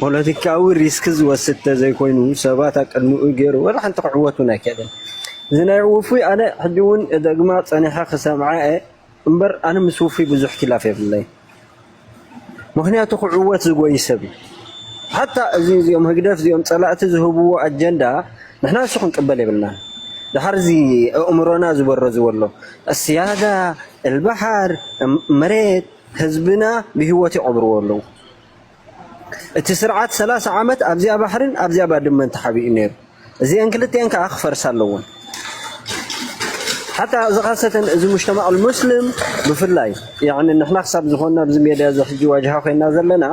ፖለቲካዊ ሪስክ ዝወስድ ተዘይኮይኑ ሰባት ኣብ ቅድሚኡ ጌሩ ወላ ሓንቲ ክዕወት ውን ኣይክእልን እዚ ናይ ውፉይ ኣነ ሕጂ ውን እደግማ ጸኒሐ ክሰምዓ እየ እምበር ኣነ ምስ ውፉይ ብዙሕ ኪላፍ የብለይን ምክንያቱ ክዕወት ዝጎይ ሰብ እዩ ሓታ እዚ እዚኦም ህግደፍ እዚኦም ጸላእቲ ዝህብዎ ኣጀንዳ ንሕና እሱ ክንቅበል የብልናን ድሓር እዚ ኣእምሮና ዝበረዝዎ ኣሎ እስያዳ እልባሓር መሬት ህዝብና ብሂወት ይቀብርዎ ኣለዉ እቲ ስርዓት ሰላሳ ዓመት ኣብዚኣ ባሕርን ኣብዚኣ ባድመን ተሓቢኡ ነይሩ። እዚኤን ክልቲኤን ከዓ ክፈርሳ ኣለዎን። ሓታ እዚ ካሰተን እዚ ሙጅተማዕ ልሙስልም ብፍላይ ያዕኒ ንሕና ክሳብ ዝኾንና ኣብዚ ሜድያ እዚ ሕጂ ዋጅሃ ኮይንና ዘለና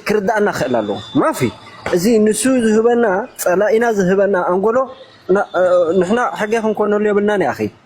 ክርድኣና ክኽእል ኣለዎ። ማፊ እዚ ንሱ ዝህበና ጸላኢና ዝህበና ኣንጎሎ ንሕና ሕገ ክንኮነሉ የብልናን ያኺ።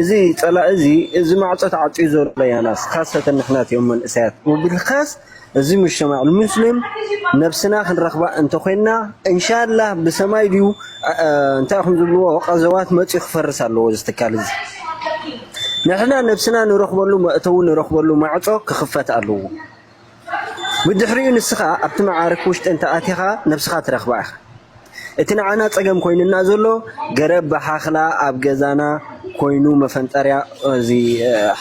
እዚ ጸላኢ እዚ እዚ ማዕጾ ተዓጽዩ ዘሎ ያናስ ካሰተን ንሕናት እዮም መንእሰያት ወብልካስ እዚ ሙጅተማዕ ልሙስሊም ነብስና ክንረክባ እንተኮይንና እንሻላህ ብሰማይ ድዩ እንታይ ኢኩም ዝብልዎ ቀዘዋት መጽዩ ክፈርስ ኣለዎ እዚ ትካል እዚ ንሕና ነብስና ንረክበሉ መእተዊ ንረክበሉ ማዕጾ ክክፈት ኣለዎ። ብድሕሪኡ ንስኻ ኣብቲ መዓርክ ውሽጢ እንተ ኣቲኻ ነብስኻ ትረኽባ ኢኻ። እቲ ንዓና ጸገም ኮይኑና ዘሎ ገረብ ብሓኽላ ኣብ ገዛና ኮይኑ መፈንጠርያ እዚ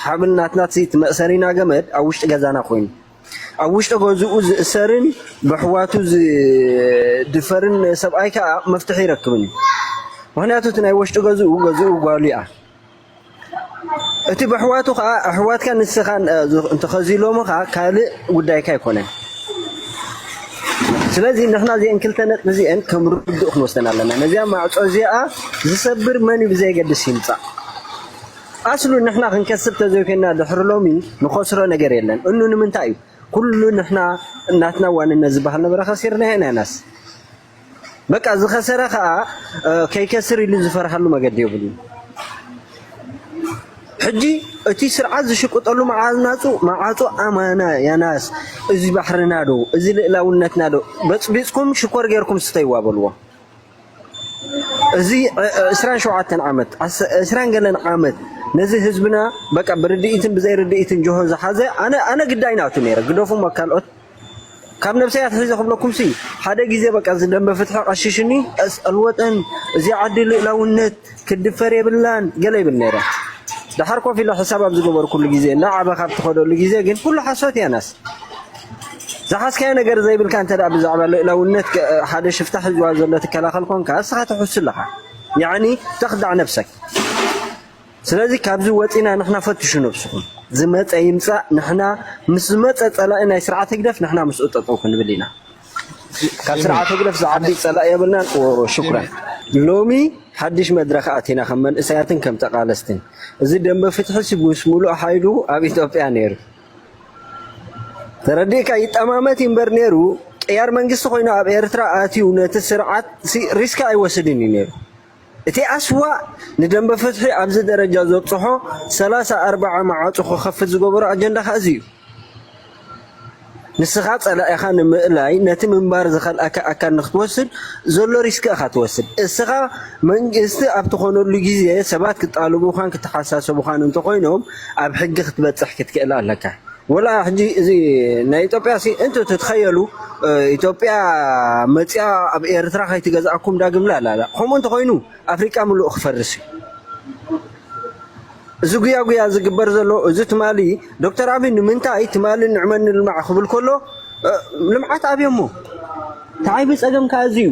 ሓብል ናትና እቲ መእሰሪና ገመድ ኣብ ውሽጢ ገዛና ኮይኑ ኣብ ውሽጢ ገዝኡ ዝእሰርን ብሕዋቱ ዝድፈርን ሰብኣይ ከኣ መፍትሒ ይረክብን እዩ። ምክንያቱ እቲ ናይ ወሽጢ ገዝኡ ገዝኡ ጓሉ እያ። እቲ በሕዋቱ ከኣ ኣሕዋትካ ንስኻን እንተኸዚሎሞ ከኣ ካልእ ጉዳይካ ኣይኮነን። ስለዚ ንሕና እዚአን ክልተ ነጥቢ እዚአን ከም ርዱእ ክንወስደን ኣለና። ነዚኣ ማዕጾ እዚኣ ዝሰብር መን እዩ ብዘየገድስ ይምጻእ። ኣስሉ ንሕና ክንከስብ ተዘይኮይና ድሕሪ ሎሚ ንኸስሮ ነገር የለን። እኑ ንምንታይ እዩ ኩሉ ንሕና ናትና ዋንነት ዝበሃል ነበረ ከሲርናዮ ኢና ናስ በቃ ዝኸሰረ ከኣ ከይከስር ኢሉ ዝፈርሃሉ መገዲ የብሉን። ሕጂ እቲ ስርዓት ዝሽቅጠሉ መዓናጹ መዓጹ ኣማና ያናስ እዚ ባሕርና ዶ እዚ ልእላውነትና ዶ በጽቢጽኩም ሽኮር ጌርኩም ስተይዋ በልዎ። እዚ ዕስራን ሸውዓተን ዓመት ዕስራን ገለን ዓመት ነዚ ህዝብና በቃ ብርድኢትን ብዘይ ርድኢትን ጆሆ ዝሓዘ ኣነ ኣነ ግዳይ ናቱ ነይረ ግደፉ ካልኦት ካብ ነብሰይ ኣትሒዘ ክብለኩምሲ ሓደ ግዜ በቃ እዚ ደምበ ፍትሒ ቀሺሽኒ ቀስ ኣልወጠን እዚ ዓዲ ልእላውነት ክድፈር የብላን ገለ ይብል ነይረ ድሓር ኮፍ ኢለ ሕሳብ ኣብ ዝገበርኩሉ ግዜ እናዓበኻ ኣብ ትኸደሉ ግዜ ግን ኩሉ ሓሶት እያ ናስ ዝሓዝካዮ ነገር ዘይብልካ እንተ ብዛዕባ ልእላውነት ሓደ ሽፍታ ሒዝዋ ዘሎ ትከላኸል ኮንካ እስኻ ትሕሱ ኣለኻ ያዕኒ ተኽዳዕ ነብሰክ ስለዚ ካብዚ ወጺና ንሕና ፈትሹ ነብስኹም ዝመጸ ይምጻእ ንሕና ምስ ዝመጸ ጸላኢ ናይ ስርዓት ህግደፍ ንሕና ምስኡ ጠጠው ክንብል ኢና ካብ ስርዓት ህግደፍ ዝዓቢ ጸላኢ የብልናን ሽኩራን ሎሚ ሓድሽ መድረኽ ኣቲና ከም መንእሰያትን ከም ተቃለስትን እዚ ደንበ ፍትሒ ሲ ምስ ሙሉእ ሓይሉ ኣብ ኢትዮጵያ ነይሩ ተረዲእካ ይጠማመት ይንበር ነይሩ ቅያር መንግስቲ ኮይኑ ኣብ ኤርትራ ኣትዩ ነቲ ስርዓት ሪስካ ኣይወስድን እዩ ነይሩ እቲ ኣስዋእ ንደምበ ፍትሒ ኣብዚ ደረጃ ዘብጽሖ ሰላሳ ኣርባዓ መዓጹ ክኸፍት ዝገበሮ ኣጀንዳ ከኣ እዚ እዩ። ንስኻ ጸላኢኻ ንምእላይ ነቲ ምንባር ዝኸልኣካ ኣካል ንክትወስድ ዘሎ ሪስክ ኢኻ ትወስድ። እስኻ መንግስቲ ኣብ ትኾነሉ ግዜ ሰባት ክጣልቡኻን ክተሓሳሰቡኻን እንተኾይኖም ኣብ ሕጊ ክትበጽሕ ክትክእል ኣለካ። ወላ ሕጂ እዚ ናይ ኢትዮጵያ ሲ እንት ትትኸየሉ ኢትዮጵያ መጽያ ኣብ ኤርትራ ከይትገዝኣኩም ዳግም ላላላ ከምኡ እንተኾይኑ ኣፍሪቃ ምሉእ ክፈርስ እዩ እዚ ጉያ ጉያ ዝግበር ዘሎ እዚ ትማሊ ዶክተር ኣብይ ንምንታይ ትማሊ ንዕመን ንልማዕ ክብል ከሎ ልምዓት ኣብዮሞ ተዓይቢ ፀገም ከዓ እዚ እዩ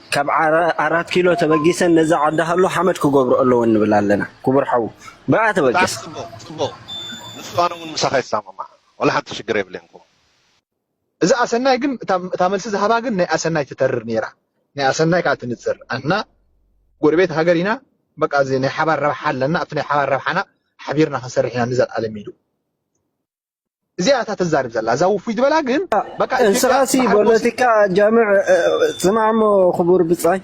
ካብ ኣራት ኪሎ ተበጊሰን ነዛ ዓዲ ሃሎ ሓመድ ክገብርኦ ኣለወን ንብል ኣለና ክቡር ሓው ብኣ ተበገስ። ብጣዕሚ ጽቡቅ ጽቡቅ ንሱ ኣነ ውን ምሳካ ይሰማማዕ ዋላ ሓንቲ ሽግር የብለይን ክቡር። እዛ ኣሰናይ ግን እታ መልሲ ዝሃባ ግን ናይ ኣሰናይ ትተርር ኔራ ናይ ኣሰናይ ካኣ ትንጽር ኣንሕና ጎረቤት ሃገር ኢና በቃ እዚ ናይ ሓባር ረብሓ ኣለና ኣብቲ ናይ ሓባር ረብሓና ሓቢርና ክንሰርሕ ኢና ንዘልኣለም ኢሉ። እዚኣ እታ ተዛርብ ዘላ እዛ ውፉይ ዝበላ ግን በቃ ኢትዮጵያ እንስኻሲ በዓል ጎሲ ፖለቲካ ጃምዕ እ፣ ስማዕሞ ክቡር ብጻይ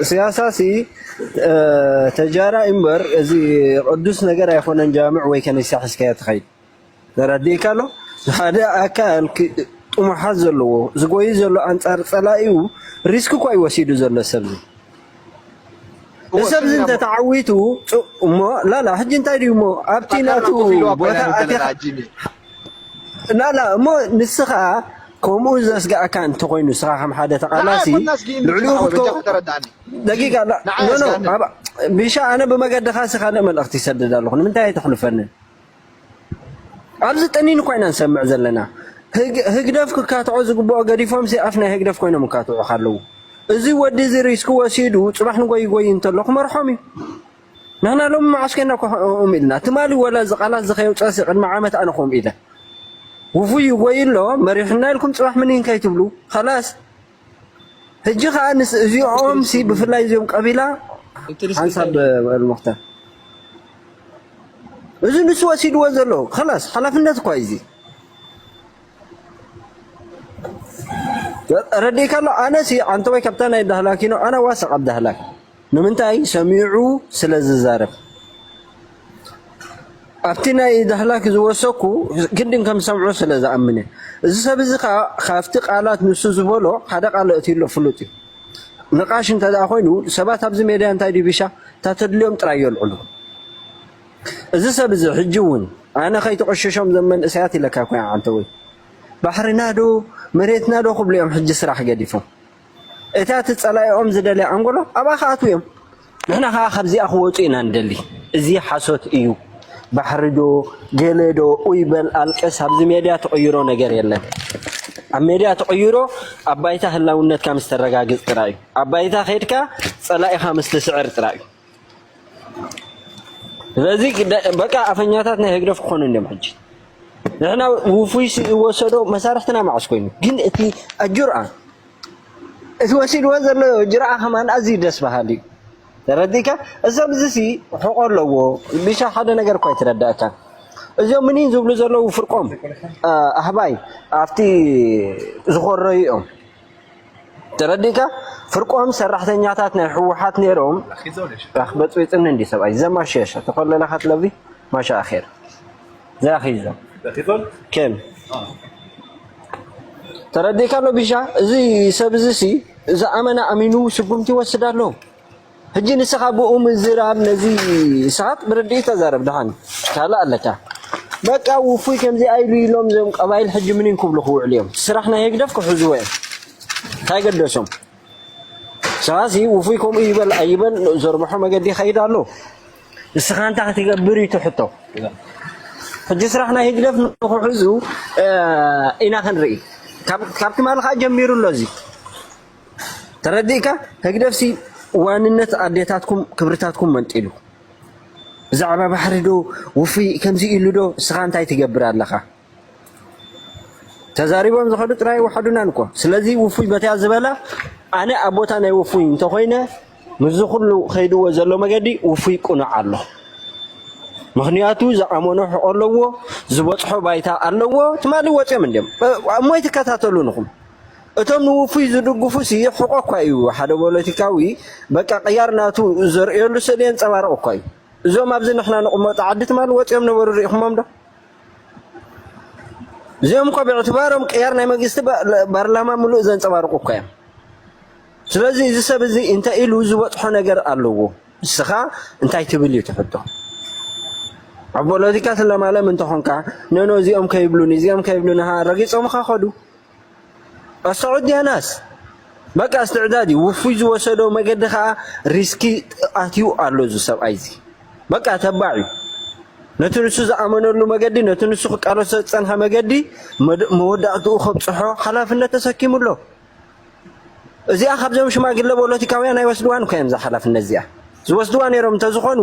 ስያሳሲ እ፣ ተጃራ እምበር እዚ ቅዱስ ነገር ኣይኮነን ጃምዕ ወይ ከኒሳ ሒዝካዮ ትኸይድ ተረዲእካ ኣሎ ሓደ ኣካል ክ- ጥሙሓት ዘለዎ ዝጎይ ዘሎ ኣንጻር ጸላኢኡ ሪስክ እኮ እዩ ወሲዱ ዘሎ ሰብዚ እሰብ እዚ እንተ ተዓዊቱ እሞ ላላ ሕጂ እንታይ ድዩ እሞ ኣብቲ ናቱ ቦታ ኣቲኻ ላላ እሞ ንስኻ ከምኡ ዘስግኣካ እንተኾይኑ ንስኻ ከም ሓደ ተቓላሲ ልዕሊኡ ክትከውን ደቂቃ ኖኖ ቢሻ ኣነ ብመገድኻ ካልእ መልእኽቲ ይሰድድ ኣለኹ ንምንታይ ኣይተሕልፈንን ኣብዚ ጠኒኑ እኳ ኢና ንሰምዕ ዘለና። ህግደፍ ክካትዖ ዝግብኦ ገዲፎምሲ ኣፍ ናይ ህግደፍ ኮይኖም ይካትዑኻ ኣለዉ። እዚ ወዲ እዚ ሪስክ ወሲዱ ጽባሕ ንጎይ ይጎይ እንተሎ ክመርሖም እዩ። ንሕና ሎሚ መዓስ ኮይና እኮ ከምኦም ኢልና ትማሊ ወላ እዚ ቃላት እዚ ከየውጸእሲ ቅድሚ ዓመት ኣነ ከምኡ ኢለ ውፉይ ይጎይ ኣሎ መሪሑና ኢልኩም ጽባሕ ምኒን ከይትብሉ ኸላስ ሕጂ ከዓ ንስ እዚኦም ሲ ብፍላይ እዚኦም ቀቢላ ሓንሳብ መክተር እዚ ንሱ ወሲድዎ ዘሎ ከላስ ሓላፍነት እኳ እዚ ረዲእካ ኣሎ ኣነ ሲ ዓንተወይ ካብታ ናይ ዳህላኪኖ ኣነ ዋሰቕ ኣብ ዳህላክ ንምንታይ ሰሚዑ ስለ ዝዛረብ ኣብቲ ናይ ዳህላክ ዝወሰኩ ግድን ከም ሰምዑ ስለ ዝኣምነ እዚ ሰብ እዚ ከዓ ካብቲ ቃላት ንሱ ዝበሎ ሓደ ቃል እትሎ ፍሉጥ እዩ ንቃሽ እንተ ኮይኑ ሰባት ኣብዚ ሜድያ እንታይ ድዩ ቢሻ እታ ተድልዮም ጥራይ የልዕሉ። እዚ ሰብ እዚ ሕጂ እውን ኣነ ከይትቕሽሾም ዘም መንእሰያት ኢለካ ኮይ ዓንተ ወይ ባሕርና ዶ መሬትና ዶ ክብሉ እዮም ሕጂ ስራሕ ገዲፎም እታ እቲ ጸላኢኦም ዝደልያ ኣንጎሎ ኣብኣ ክኣትዉ እዮም። ንሕና ከዓ ካብዚኣ ክወጹ ኢና ንደሊ። እዚ ሓሶት እዩ። ባሕሪ ዶ ገለ ዶ ኡይ በል ኣልቅስ ኣብዚ ሜድያ ትቕይሮ ነገር የለን። ኣብ ሜድያ ትቕይሮ ኣብ ባይታ ህላውነትካ ምስ ተረጋግጽ ጥራይ እዩ። ኣብ ባይታ ኬድካ ጸላኢኻ ምስ ትስዕር ጥራይ እዩ። ስለዚ በቃ ኣፈኛታት ናይ ህግደፍ ክኾኑ እንዲም ሕጂ ንሕና ውፉይ ዝወሰዶ መሳርሕትና ማዕስ ኮይኑ ግን እቲ ኣጁርኣ እቲ ወሲድዎ ዘሎ ጅርኣ ከማን ኣዝዩ ደስ በሃሊ እዩ ተረዲእካ እዞም እዚሲ ሕቆ ኣለዎ ቢሻ ሓደ ነገር እኳ ይትረዳእካ እዚኦም ምኒን ዝብሉ ዘለዉ ፍርቆም ኣህባይ ኣብቲ ዝኾረዩ እዮም ተረዲእካ ፍርቆም ሰራሕተኛታት ናይ ህወሓት ነይሮም በፅቢፅኒ እንዲ ሰብኣይ ዘማሸሸ ተኮለለካ ትለቢ ማሻ ኣኼር ዘያኺዞ ከም ተረዲእካ ኣሎ ቢሻ እዚ ሰብ እዚ ሲ ዝኣመነ ኣሚኑ ስጉምቲ ይወስድ ኣሎ ሕጂ ንስኻ ብኡ ምዝራብ ነዚ ንስኻት ብርድኢት ተዛረብ ድሓን ካልእ ኣለካ። በቃ ውፉይ ከምዚኣ ኢሉ ኢሎም እዞም ቀባይል ሕጂ ምኒን ክብሉ ክውዕሉ እዮም ስራሕ ናይ ህግደፍ ክሕዝዎ እዮም እንታይ ገደሶም ስኻሲ ውፉይ ከምኡ ይበል ኣይበል ዘርብሖ መገዲ ይኸይድ ኣሎ ንስኻ እንታይ ክትገብር እዩ ትሕቶ ሕጂ ስራሕ ናይ ህግደፍ ንክሕዙ ኢና ክንርኢ ካብ ትማሊ ከዓ ጀሚሩ ኣሎ እዚ ተረዲእካ ህግደፍሲ ዋንነት ኣዴታትኩም ክብርታትኩም መንጢሉ ብዛዕባ ባሕሪ ዶ ውፍይ ከምዚ ኢሉ ዶ ንስኻ እንታይ ትገብር ኣለኻ? ተዛሪቦም ዝኸዱ ጥራይ ወሓዱናን እኮ ስለዚ ውፉይ በትያ ዝበላ ኣነ ኣብ ቦታ ናይ ውፉይ እንተኾይነ ምስዚ ኩሉ ከይድዎ ዘሎ መገዲ ውፉይ ቁኑዕ ኣሎ ምክንያቱ ዝኣመኖ ሕቆ ኣለዎ ዝበፅሖ ባይታ ኣለዎ ትማሊ ወፅዮም እንዲም እሞይ ትከታተሉ ንኹም እቶም ንውፉይ ዝድግፉሲ ሕቆ እኳ እዩ ሓደ ፖለቲካዊ በቃ ቅያር ናቱ ዘርእየሉ ስእሊ የንጸባርቕ እኳ እዩ እዞም ኣብዚ ንሕና ንቕመጦ ዓዲ ትማል ወጺኦም ነበሩ ርኢኹሞም ዶ እዚኦም እኳ ብዕትባሮም ቅያር ናይ መንግስቲ ባርላማ ምሉእ ዘንጸባርቑ እኳ እዮም ስለዚ እዚ ሰብ እዚ እንተ ኢሉ ዝበጽሖ ነገር ኣለዎ ንስኻ እንታይ ትብል እዩ ትሕቶ ኣብ ፖለቲካ ስለማለም እንተኾንካ ነኖ እዚኦም ከይብሉን እዚኦም ከይብሉን ረጊፆምኻ ኸዱ ኣሳዑዲ ያናስ በቃ እስትዕዳድ እዩ ውፉይ ዝወሰዶ መገዲ ከዓ ሪስኪ ኣትዩ ኣሎ እዚ ሰብኣይ እዚ በቃ ተባዕ እዩ ነቲ ንሱ ዝኣመነሉ መገዲ ነቲ ንሱ ክቃለሶ ዝፀንሐ መገዲ መወዳእትኡ ከብፅሖ ሓላፍነት ተሰኪሙ ኣሎ እዚኣ ካብዞም ሽማግለ ፖለቲካውያን ኣይወስድዋን እኮ እዮም እዛ ሓላፍነት እዚኣ ዝወስድዋ ነይሮም እንተዝኾኑ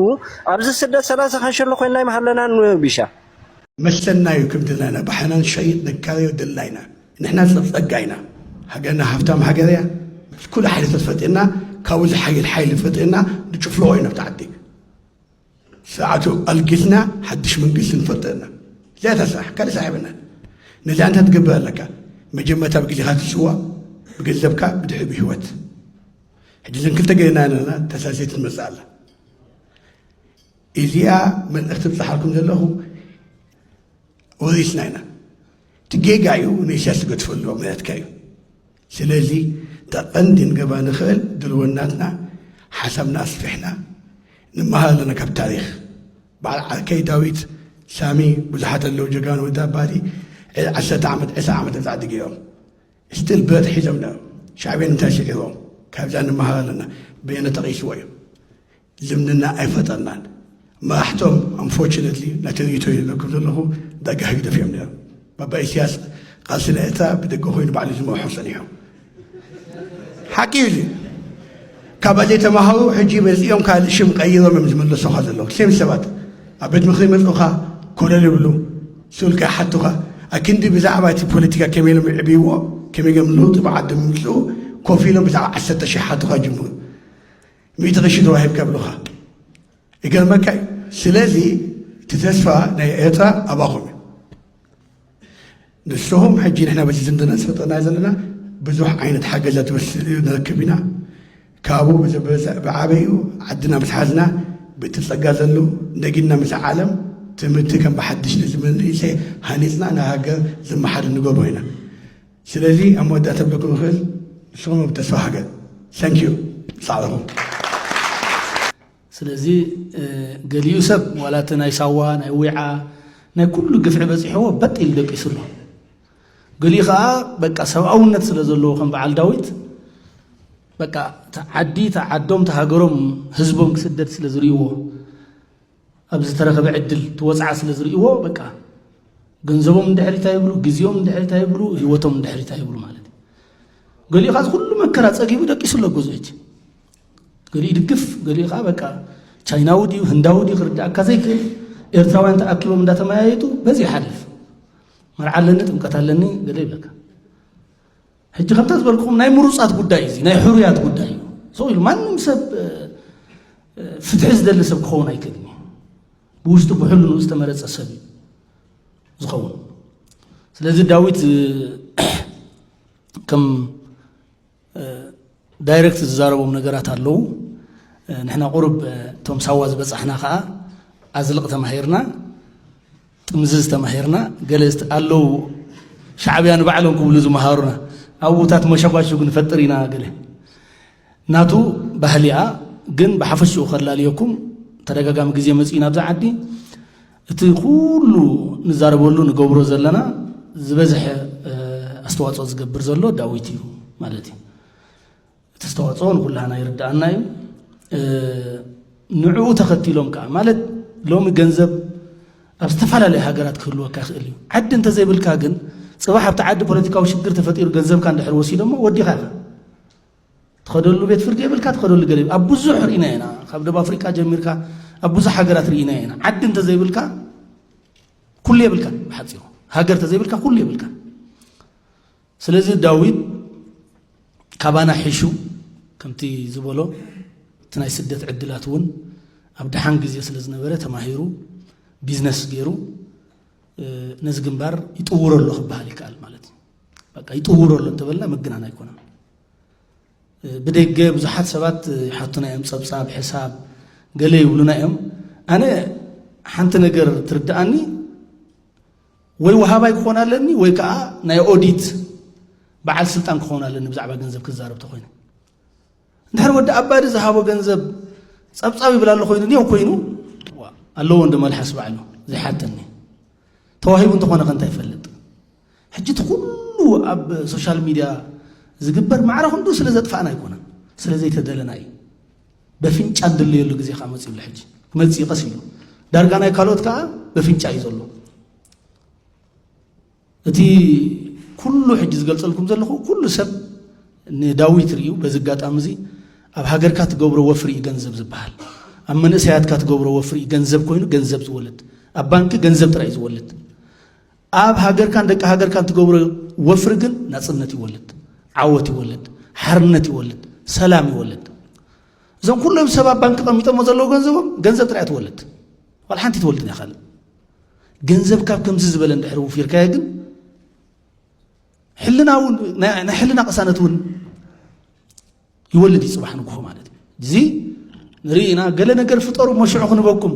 ኣብዚ ስደት ሰላሳ ካንሸሎ ኮይንና ይመሃለና ቢሻ መሰልና እዩ ክብድና ኢና ብሓይና ንሸይጥ ነጋብዮ ደልና ኢና ንሕና ጸጸጋ ኢና ሃገርና ሃፍታም ሃገር እያ ምስ ኩሉ ሓይልታት ፈጢርና ካብኡ ዝሓይል ሓይሊ ፈጢርና ንጭፍልቆ ኢና ኣብቲ ዓዲ ስርዓቱ ኣልጊስና ሓድሽ መንግስቲ ንፈጥር ኢና እዚኣ እታ ስራሕ ካልእ ስራሕ የብልናን ነዚ ኣንታ ትገብር ኣለካ መጀመርታ ብግዜኻ ትስዋ ብገንዘብካ ብድሕሪ ብህይወት ሕጂ ዘን ክልተ ገይርና ኣለና ተሳሴት ትመፅእ ኣላ እዚኣ መልእኽቲ ብፅሓልኩም ዘለኹ ወሪስና ኢና እቲ ጌጋ እዩ ንእስያስ ዝገድፈሉ ምክንያትካ እዩ ስለዚ ተቐንዲ ንገባ ንኽእል ድልወናትና ሓሳብና ኣስፊሕና ንመሃር ኣለና ካብ ታሪክ በዓል ዓርከይ ዳዊት ሳሚ ብዙሓት ኣለዉ ጀጋኑ ወዲ ኣባዲ ዓሰርተ ዓመት ዕስራ ዓመት ብዛዕዲ ገይሮም ስትል ብረት ሒዞም ነበሩ ሻዕብያን እንታይ ስዒሮም ካብዛ ንመሃር ኣለና በየነ ተቂስዎ እዩ ልምንና ኣይፈጠርናን መራሕቶም ኣንፎርችነትሊ ነቲ ርእይቶ ኢሉ ዘክብ ዘለኹ ዳርጋ ህግደፍ እዮም ነይሮም ባባ ኢስያስ ቃልሲ ናይ ኤርትራ ብደገ ኮይኑ ባዕሉ ዝመርሖ ጸኒሑ ሓቂ እዩ ካብ ኣጀ ተማሃሩ ሕጂ መጺኦም ካልእ ሽም ቀይሮም እዮም ዝምለሱኻ ዘለዉ ሴም ሰባት ኣብ ቤት ምኽሪ መጽኡኻ ኮለል ይብሉ ስብልካ ይሓቱኻ ኣክንዲ ብዛዕባ እቲ ፖለቲካ ከመይ ኢሎም ይዕብይዎ ከመይ ገም ለውጢ ብዓዲ ምምፅኡ ኮፍ ኢሎም ብዛዕባ ዓሰርተ ሽሕ ሓቱኻ ጅምሩ ሚእቲ ቅርሺ ተዋሂብካ ይብሉኻ ይገርመካ እዩ ስለዚ እቲ ተስፋ ናይ ኤርትራ ኣባኹም እዩ ንስኹም ሕጂ ንሕና በዚ ዝምድና ዝፈጠና ዘለና ብዙሕ ዓይነት ሓገዛት ንረክብ ኢና ካብኡ ብዓበይኡ ዓድና ምስ ሓዝና ብእቲ ጸጋ ዘሉ ነጊድና ምስ ዓለም ትምህርቲ ከም ብሓድሽ ንዝመንእሰይ ሃኒፅና ንሃገር ዝመሓድ ንገብሮ ኢና ስለዚ ኣብ መወዳእታ ክብለኩም ዝኽእል ንስኹም ኣብ ተስፋ ሃገር thank you ጻዕርኹም ስለዚ ገሊኡ ሰብ ዋላ እቲ ናይ ሳዋ ናይ ዊዓ ናይ ኩሉ ግፍዒ በፂሕዎ በጥ ኢሉ ደቂሱ ኣሎ ገሊኡ ከዓ በቃ ሰብኣውነት ስለ ዘለዎ ከም በዓል ዳዊት በቃ ዓዲ ዓዶም ተሃገሮም ህዝቦም ክስደድ ስለ ዝርእይዎ ኣብ ዝተረኸበ ዕድል እቲ ወጽዓ ስለ ዝርእይዎ በቃ ገንዘቦም ድሕሪት ኣይብሉ፣ ግዜኦም ድሕሪት ኣይብሉ፣ ህይወቶም ድሕሪት ኣይብሉ ማለት እዩ። ገሊኡ ኻዚ ኩሉ መከራ ጸጊቡ ደቂሱ ኣሎ ገዝኡ ሕጂ ገሊኡ ይድግፍ ገሊኡ ከዓ በቃ ቻይናዊ ድዩ ህንዳዊ ድዩ ክርዳእካ ዘይክእል ኤርትራውያን ተኣኪቦም እንዳተመያየጡ በዚ ይሓልፍ መርዓ ኣለኒ ጥምቀት ኣለኒ ገለ ይብለካ ሕጂ ከምታ ዝበልኩም ናይ ምሩጻት ጉዳይ እዚ ናይ ሕሩያት ጉዳይ እዩ ሰው ኢሉ ማንም ሰብ ፍትሒ ዝደሊ ሰብ ክኸውን ኣይክእልን እዩ ብውሽጡ ብሕልኑ ዝተመረፀ ሰብ እዩ ዝኸውን ስለዚ ዳዊት ከም ዳይረክት ዝዛረቦም ነገራት ኣለዉ ንሕና ቁርብ እቶም ሳዋ ዝበፃሕና ከዓ ኣዝልቕ ተማሂርና ጥምዝዝ ተማሂርና ገለ ዝት ኣለው ሻዕብያ ንባዕሎም ክብሉ ዝመሃሩና ኣብታት መሸጓሽጉ ንፈጥር ኢና ገለ ናቱ ባህሊኣ ግን ብሓፈሽኡ ከላልየኩም ተደጋጋሚ ግዜ መፅኡ ናብዚ ዓዲ እቲ ኩሉ ንዛረበሉ ንገብሮ ዘለና ዝበዝሐ ኣስተዋፅኦ ዝገብር ዘሎ ዳዊት እዩ ማለት እዩ እቲ ዝተዋፅኦ ንኩላህና ይርዳኣና እዩ ንዕኡ ተኸቲሎም ከዓ ማለት ሎሚ ገንዘብ ኣብ ዝተፈላለዩ ሃገራት ክህልወካ ይኽእል እዩ ዓዲ እንተዘይብልካ ግን ፅባሕ ኣብቲ ዓዲ ፖለቲካዊ ሽግር ተፈጢሩ ገንዘብካ እንድሕር ወሲዶሞ ወዲኻ ኢኻ ትኸደሉ ቤት ፍርዲ የብልካ ትኸደሉ ገለ ኣብ ብዙሕ ርኢና ኢና ካብ ደብ ኣፍሪቃ ጀሚርካ ኣብ ብዙሕ ሃገራት ርኢና ኢና ዓዲ እንተዘይብልካ ኩሉ የብልካ ብሓፂሩ ሃገር ተዘይብልካ ኩሉ የብልካ ስለዚ ዳዊት ካባና ሒሹ ከምቲ ዝበሎ እቲ ናይ ስደት ዕድላት እውን ኣብ ድሓን ግዜ ስለ ዝነበረ ተማሂሩ ቢዝነስ ገይሩ ነዚ ግንባር ይጥውሮ ኣሎ ክበሃል ይከኣል ማለት እዩ በቃ ይጥውሮ ኣሎ እንተበልና ምግናን ኣይኮነን ብደገ ብዙሓት ሰባት ይሓቱና እዮም ፀብፃብ ሕሳብ ገለ ይብሉና እዮም ኣነ ሓንቲ ነገር ትርድኣኒ ወይ ወሃባይ ክኾን ኣለኒ ወይ ከዓ ናይ ኦዲት በዓል ስልጣን ክኾን ኣለኒ ብዛዕባ ገንዘብ ክዛረብ ተኾይነ እንድሕር ወዲ ኣባዲ ዝሃቦ ገንዘብ ፀብፃብ ይብል ኣሎ ኮይኑ ኔው ኮይኑ ኣለዎ እንዶ መልሓስ ባዕሉ ዘይሓተኒ ተዋሂቡ እንተኾነ ከ እንታይ ይፈልጥ ሕጂ እቲ ኩሉ ኣብ ሶሻል ሚድያ ዝግበር ማዕረ ክንዱ ስለ ዘጥፋእና ኣይኮነን ስለ ዘይተደለና እዩ በፍንጫ ንድለየሉ ግዜ ከዓ መፅኡ ኣሎ ሕጂ ክመፅእ እዩ ቀስ ኢሉ ዳርጋ ናይ ካልኦት ከዓ በፍንጫ እዩ ዘሎ እቲ ኩሉ ሕጂ ዝገልፀልኩም ዘለኹ ኩሉ ሰብ ንዳዊት ርእዩ በዚ ኣጋጣሚ እዚ ኣብ ሃገርካ ትገብሮ ወፍሪ እዩ ገንዘብ ዝበሃል ኣብ መንእሰያትካ ትገብሮ ወፍሪ እዩ ገንዘብ ኮይኑ ገንዘብ ዝወልድ ኣብ ባንኪ ገንዘብ ጥራይ እዩ ዝወልድ ኣብ ሃገርካን ደቂ ሃገርካን ትገብሮ ወፍሪ ግን ናጽነት ይወልድ፣ ዓወት ይወልድ፣ ሓርነት ይወልድ፣ ሰላም ይወልድ። እዞም ኩሎም ሰብ ኣብ ባንኪ ቀሚጦሞ ዘለዉ ገንዘቦም ገንዘብ ጥራይ ትወልድ ዋላ ሓንቲ ትወልድ ናይ ካልእ ገንዘብ ካብ ከምዚ ዝበለ እንድሕር ውፊርካዮ ግን ሕልና እውን ናይ ሕልና ቅሳነት እውን ይወልድ እዩ ጽባሕ ንግሆ ማለት እዩ እዚ ንርኢና ገለ ነገር ፍጠሩ እሞ ሽዑ ክንበኩም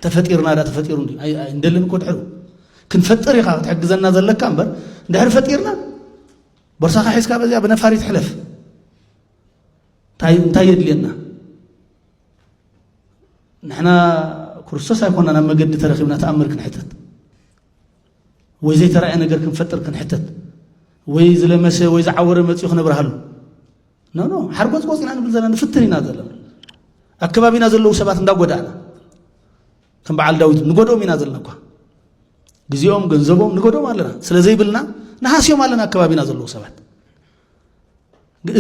ተፈጢርና ዳ ተፈጢሩ እንደልን እኮ ድሕሩ ክንፈጥር ኢኻ ክትሕግዘና ዘለካ እምበር እንድሕሪ ፈጢርና ቦርሳኻ ሒዝካ በዚያ ብነፋሪት ሕለፍ እንታይ የድልየና ንሕና ክርስቶስ ኣይኮና ናብ መገዲ ተረኪብና ተኣምር ክንሕተት ወይ ዘይተራእየ ነገር ክንፈጥር ክንሕተት ወይ ዝለመሰ ወይ ዝዓወረ መፅኡ ክነብርሃሉ ኖ ኖ ሓርጎፅ ቆፅ ኢና ንብል ዘለና ንፍትን ኢና ዘለና ኣከባቢና ዘለዉ ሰባት እንዳጎዳእና ከም በዓል ዳዊት ንጎድኦም ኢና ዘለና እኳ ግዜኦም ገንዘቦም ንጎድኦም ኣለና ስለ ዘይብልና ንሃስዮም ኣለና ኣከባቢና ዘለዉ ሰባት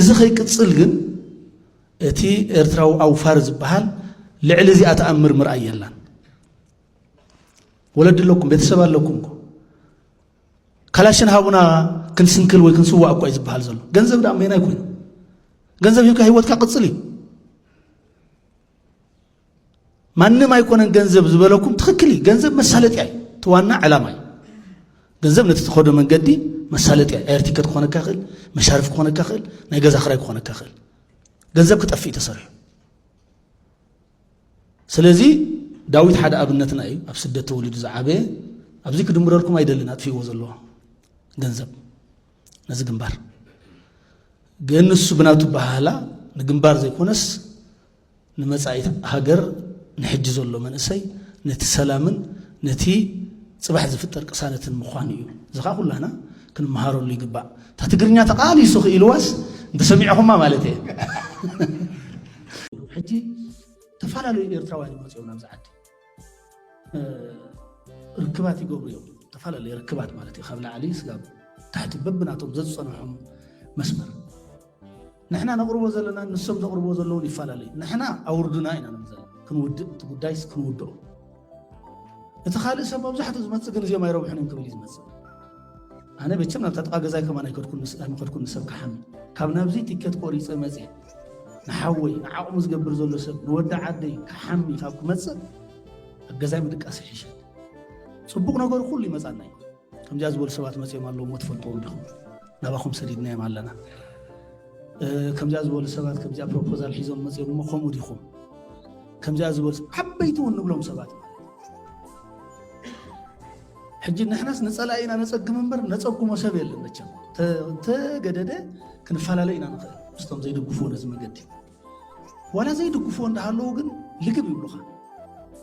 እዚ ከይቅፅል ግን እቲ ኤርትራዊ ኣውፋር ዝበሃል ልዕሊ እዚኣ ተኣምር ምርኣይ የላን ወለዲ ኣለኩም ቤተሰብ ኣለኩም ካላሽን ሃቡና ክንስንክል ወይ ክንስዋእ እኳ እዩ ዝበሃል ዘሎ ገንዘብ ዳ ሜና ይኮይኑ ገንዘብ ሂብካ ሂወትካ ቅፅል እዩ ማንም ኣይኮነን ገንዘብ ዝበለኩም ትክክል እዩ ገንዘብ መሳለጥያ እዩ ትዋና ዕላማ እዩ ገንዘብ ነቲ ተኸዶ መንገዲ መሳለጥያ ኤር ቲከት ክኾነካ ይኽእል መሻርፍ ክኾነካ ይኽእል ናይ ገዛ ክራይ ክኾነካ ይኽእል ገንዘብ ክጠፍእ እዩ ተሰሪሑ ስለዚ ዳዊት ሓደ ኣብነትና እዩ ኣብ ስደት ተወሊዱ ዝዓበየ ኣብዚ ክድምረልኩም ኣይደልን ኣጥፊእዎ ዘለዎ ገንዘብ ነዚ ግንባር ግን ንሱ ብናቱ ባህላ ንግንባር ዘይኮነስ ንመጻኢ ሃገር ንሕጂ ዘሎ መንእሰይ ነቲ ሰላምን ነቲ ፅባሕ ዝፍጠር ቅሳነትን ምዃኑ እዩ እዚ ከዓ ኩላና ክንመሃረሉ ይግባእ እታ ትግርኛ ተቃሊሱ ክኢልዋስ እንተሰሚዕኹማ ማለት እየ ሕጂ ተፈላለዩ ኤርትራውያን ይመፅኦም ናብዚ ዓዲ ርክባት ይገብሩ እዮም ተፈላለዩ ርክባት ማለት እዩ ካብ ላዕሊ ስጋብ ታሕቲ በብናቶም ዘዝፀንሖም መስመር ንሕና ነቕርቦ ዘለና ንሶም ዘቕርቦ ዘለውን ይፈላለዩ ንሕና ኣውርዱና ኢና ንብል ዘለና ክንውድእ እቲ ጉዳይስ ክንውድኦ እቲ ካልእ ሰብ መብዛሕትኡ ዝመፅእ ግን እዚኦም ኣይረብሑን እዮም ክብል እዩ ዝመፅእ ኣነ መቸም ናብታ ጥቓ ገዛይ ከማን ኣይከድኩን ንሰብ ክሓሚ ካብ ናብዚ ቲኬት ቆሪፀ መፅ ንሓወይ ንዓቕሙ ዝገብር ዘሎ ሰብ ንወዲ ዓደይ ክሓሚ ካብ ክመፅእ ኣብ ገዛይ ምድቃስ ይሕሸ ፅቡቕ ነገሩ ኩሉ ይመፃና እዩ ከምዚኣ ዝበሉ ሰባት መፅኦም ኣለዎ እሞ ትፈልጥዎም ዲኹም ናባኹም ሰዲድናዮም ኣለና ከምዚኣ ዝበሉ ሰባት ከምዚኣ ፕሮፖዛል ሒዞም መፅኦም እሞ ከምኡ ዲኹም ከምዚኣ ዝበሉ ዓበይቲ እውን ንብሎም ሰባት ሕጂ ንሕናስ ንፀላኢ ኢና ነፀግም እምበር ነፀጉሞ ሰብ የለን መቸም ተገደደ ክንፈላለ ኢና ንኽእል ምስቶም ዘይድግፉ ነዚ መገዲ ዋላ ዘይድግፍዎ እንዳሃለዉ ግን ልግብ ይብሉኻ።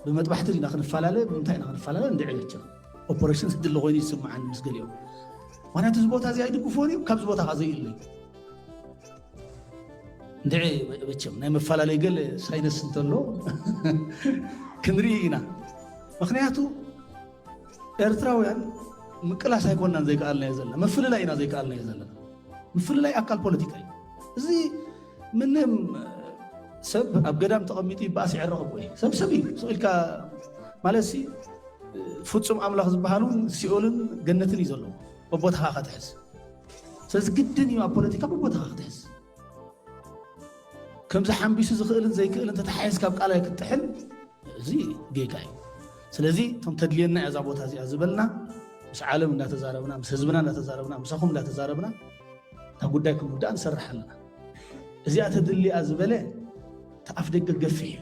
ብመጥባሕቲ ዲና ክንፈላለ ብምንታይ ኢና ክንፈላለ እንድዒ መቸም ኦፐረሽን ዝድለ ኮይኑ እዩ ዝስምዓኒ ምስ ገሊኦም ምክንያቱ እዚ ቦታ እዚ ኣይድግፍዎን እዩ ካብዚ ቦታ ከዓ ዘይእለ እዩ እንድዒ መቸም ናይ መፈላለይ ገለ ሳይነስ እንተሎ ክንርኢ ኢና ምክንያቱ ኤርትራውያን ምቅላስ ኣይኮናን ዘይከኣልናዮ ዘለና ምፍልላይ ኢና ዘይከኣልናዮ ዘለና ምፍልላይ ኣካል ፖለቲካ እዩ እዚ ምንም ሰብ ኣብ ገዳም ተቐሚጡ ይበኣስ ይዕረቕ እኮ እዩ ሰብ ሰብ እዩ ስቕ ኢልካ ማለትሲ ፍፁም ኣምላኽ ዝበሃል እውን ሲኦልን ገነትን እዩ ዘለዎ በቦታኻ ከትሕዝ ስለዚ ግድን እዩ ኣብ ፖለቲካ በቦታኻ ክትሕዝ ከምዚ ሓንቢሱ ዝኽእልን ዘይክእልን ተተሓሒዝካ ኣብ ቃላይ ክትጥሕል እዚ ጌጋ እዩ ስለዚ እቶም ተድልየና እያ እዛ ቦታ እዚኣ ዝበልና ምስ ዓለም እንዳተዛረብና ምስ ህዝብና እንዳተዛረብና ምሳኹም እንዳተዛረብና እታ ጉዳይ ክንውዳእ ንሰርሕ ኣለና እዚኣ ተድልያ ዝበለ ተኣፍ ደገ ገፊሕ እዩ